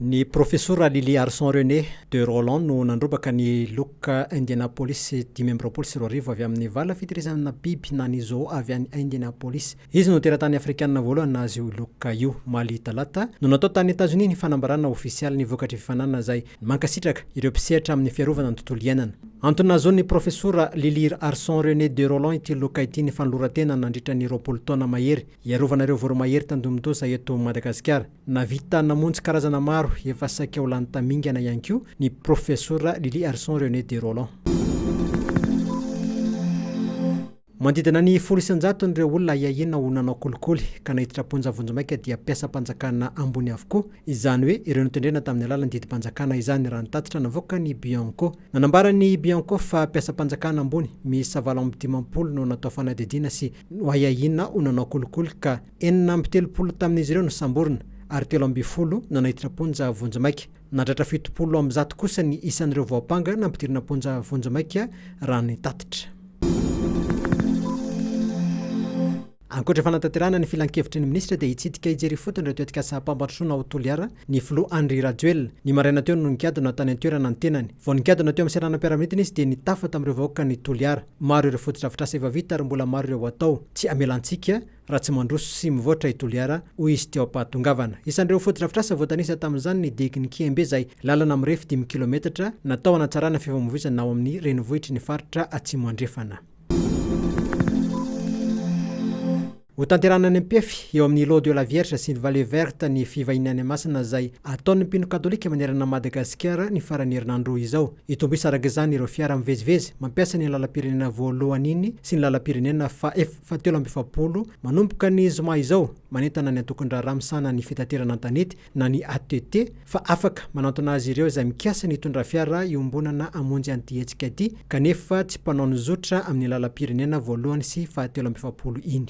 Ny Profesora Lily Arson René de Rolland no nandrombaka ny loka Indianapolis dimy amby roapolo sy roa arivo avy amin'ny vala fitehirizana biby na ny zoo avy any Indianapolis. Izy no teratany afrikanina voalohany nahazo io loka io. Omaly talata no natao tany Etazonia ny fanambarana ofisialy ny vokatry fifaninanana izay mankasitraka ireo mpisehatra amin'ny fiarovana ny tontolo iainana. Antony nahazoan'ny Profesora Lily Arson René de Rolland ity loka ity ny fanoloran-tena nandritra ny roapolo taona mahery hiarovana ireo voromahery tandindomin-doza eto Madagasikara. Nahavita namonjy karazana maro efa saika ho lany tamingana ihany koa ny Profesora Lily Arson René de Rolland. Manodidina ny folo isan-jatony ireo olona ahiahiana ho nanao kolikoly ka naiditra am-ponja vonjimaika dia mpiasam-panjakana ambony avokoa, izany hoe ireo notendrena tamin'ny alalan'ny didim-panjakana izany, raha ny tatitra navoakan'ny Bianco. Nanambara ny Bianco fa mpiasam-panjakana ambony miisa valo amby dimampolo no natao fanadihadiana sy noahiahiana ho nanao kolikoly ka Enina amby telopolo tamin'izy ireo nosamborina ary telo ambin'ny folo nanaititra am-ponja vonjimaika. Nahatratra fitopolo amby zato kosa ny isan'ireo voampanga nampidirina am-ponja vonjimaika raha ny tatitra. Ankoatra fanatanterahana ny filankevitry ny minisitra dia hitsidika hijery ifotony ireo tetikasam-pampandrosoana ao Toliara ny filoha Andry Rajoelina. Ny maraina teo no nikadona tany an-toerana ny tenany. Vao nikadona teo amin'ny seranam-piaramanidina izy dia nitafa tamin'ireo vahoakan'i Toliara. Maro ireo fotodrafitrasa efa vita ary mbola maro ireo hatao. Tsy amela antsika. raha tsy mandroso sy mivoatra i Toliara, hoy izy teo am-pahatongavana. Isan'ireo fotodrafitrasa voatanisa tamin'izany ny diakin'i Kiembe izay lalana mirefy dimy kilometatra natao hanatsarana fifamoivoizana ao amin'ny renivohitry ny faritra Atsimo Andrefana. Hotanterahana any Ampefy, eo amin'ny Lot de la Vierge sy ny Vallée Verte ny fivahiniana any Masina izay ataon'ny mpino katolika manerana an'i Madagasikara ny faran'ny herinandro izao. Hitombo isa araka izany ireo fiara mivezivezy mampiasa iny lalam-pirenena voalohany iny sy ny lalam-pirenena faha fahatelo amby efapolo, manomboka ny zoma izao, manentana ny Antokon-draharaha misahana ny fitaterana an-tanety na ny ATT fa afaka manantona azy ireo izay mikasa ny hitondra fiara iombonana hamonjy an'ity hetsika ity kanefa tsy mpanao ny zotra amin'ny lalam-pirenena voalohany sy fahatelo amby efapolo iny.